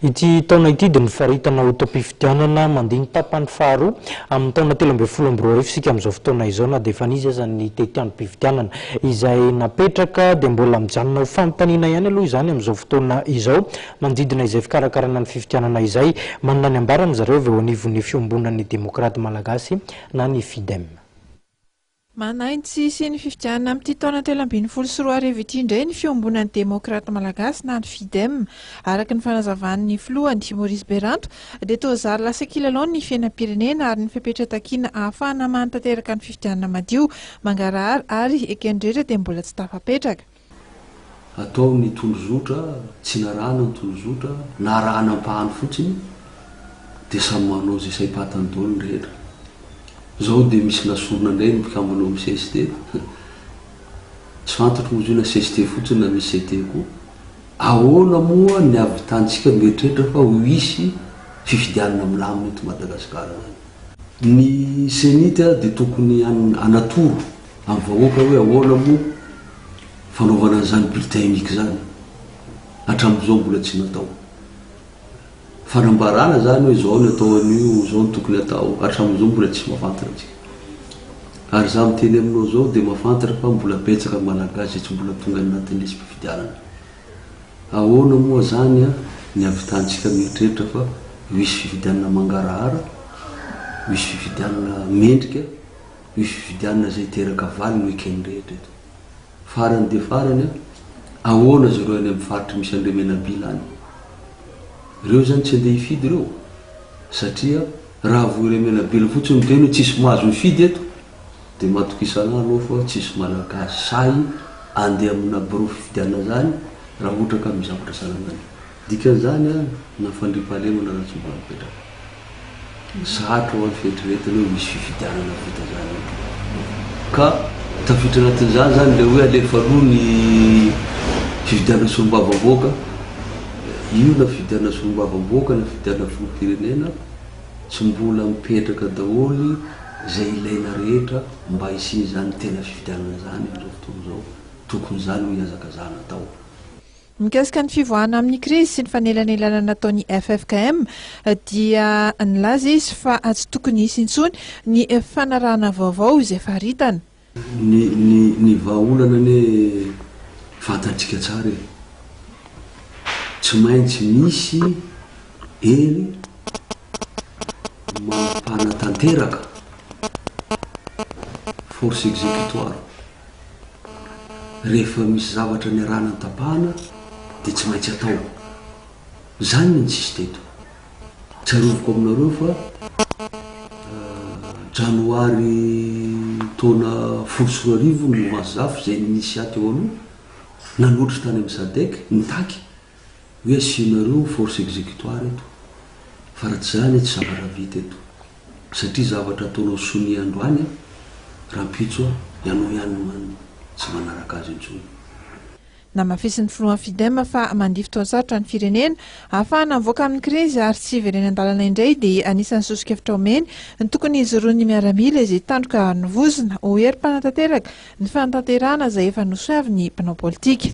Ity taona ity dia nofaritana ho taom-pifidianana mandiny tapany faharoa amin'ny taona telo ambin'ny folo amby roa arivo isika amin'izao fotoana izao na dia efa nisy aza ny tetiandrom-pifidianana izay napetraka dia mbola mijanona ho fanontaniana ihany aloha izany amin'izao fotoana izao manodidina izay fikarakarana ny fifidianana izay manana ny ambaran'izareo avy eo anivon'ny fiombonan'ny demokraty malagasy na ny Fidem. Manaintsy sy ny fifidianana amin'ity taona telo ambin'ny folo sy roa arivo ity indray ny fiombonan'ny Demokraty Malagasy na ny Fidem. Araka ny fanazavan'ny filohany, Maurice Beranto, dia toa zary lasa kilalao ny fiainam-pirenena ary ny fepetra takiana hahafahana manatanteraka ny fifidianana madio, mangarahara ary eken'ny rehetra dia mbola tsy tafapetraka. Atao ny tondrozotra, tsy narahana ny tondrozotra, na arahana ampahany fotsiny, dia samy manao izay saim-patany daholo ny rehetra. Izao dia misy nasorina indray ny mpikambana ao amin'ny cst. Tsy fantatro moa izy io na cst fotsiny na misy CT koa. Ahoana moa ny havitantsika mieritreritra fa ho hisy fifidianana milamina eto Madagasikara izany? Ny cenit dia tokony hanatoro Amin'ny vahoaka hoe ahoana moa fanaovana an'izany bulletin unique izany? Hatramin'izao mbola tsy natao. Fanambarana izany hoe izao ny atao an'io, izao no tokony atao, hatramin'izao mbola tsy mahafantatra antsika. Ary izaho miteny aminao izao dia mahafantatra fa mbola betsaka ny Malagasy izay tsy mbola tonga any anatin'ny lisi-pifidianana. Ahoana moa izany ny havitantsika mieritreritra fa hisy fifidianana mangarahara, hisy fifidianana mendrika? ny fifidianana izay hiteraka valy ny week-end rehetra eto. Farany dia farany an, ahoana izy ireo any amin'ny faritra misy an'ireo menabila any? Ireo izany tsy handeha hifidy ireo? Satria raha voa ireo menabila fotsiny miteny hoe tsisy mahazo mifidy eto, dia matokisalahy aloha fa tsisy malagasy sahy handeha amina birao fifidianana izany raha ohatra ka amin'ny zavatra salama io. Dikan'izany an, na fandriampahalemana na tsy mbola mipetraka. Sarotra ho an'ny fieritreretana hoe misy fifidianana vita izany eo. Ka tafiditra anatin'izany izany ilay hoe alefa aloha ny fifidianana solombavamboaka. Io na fifidianana solombavamboaka na fifidianana filoham-pirenena, tsy mbola mipetraka daholo izay ilaina rehetra mba hisian'izany tena fifidianana izany amin'izao fotoana izao. Tokony izany hoy hiazakazahana atao. Mikasika ny fivoahana amin'ny krizy sy ny fanelanelanana nataon'ny ffkm dia nilaza izy fa tsy tokony hisy intsony ny fanarahana vaovao izay faritana. Ny ny ny vahaolana anie fantantsika tsara e! Tsy maintsy misy hery mampanatanteraka, force exécutoire. rehefa misy zavatra niarahana nitapahana dia tsy maintsy atao. Izany no nisy teto. Tsaroviko aminareo fa janoary taona folo sy roa arivo ny Mouvance Zafy izay initiat teo aloha, nanotrika tany amin'ny Sadec, nitaky Hoe asianareo force executoire eto fa raha tsy izany tsy zavatra vita eto satria zavatra ataonao sonia androany an, rampitso an, ianao ihany no hanina, tsy manaraka azy intsony. Namafisin'ny filohan'ny Fidem fa mandifotra ho sarotra ny firenena ahafahana mivoaka amin'ny krizy ary tsy hiverena an-dalana indray dia anisan'ny soso-kevitra omeny ny tokony hijoroan'ny miaramila izay tandroka ny vozona ho herim-panatanteraka ny fanatanterahana izay efa nosoavin'ny mpanao politika.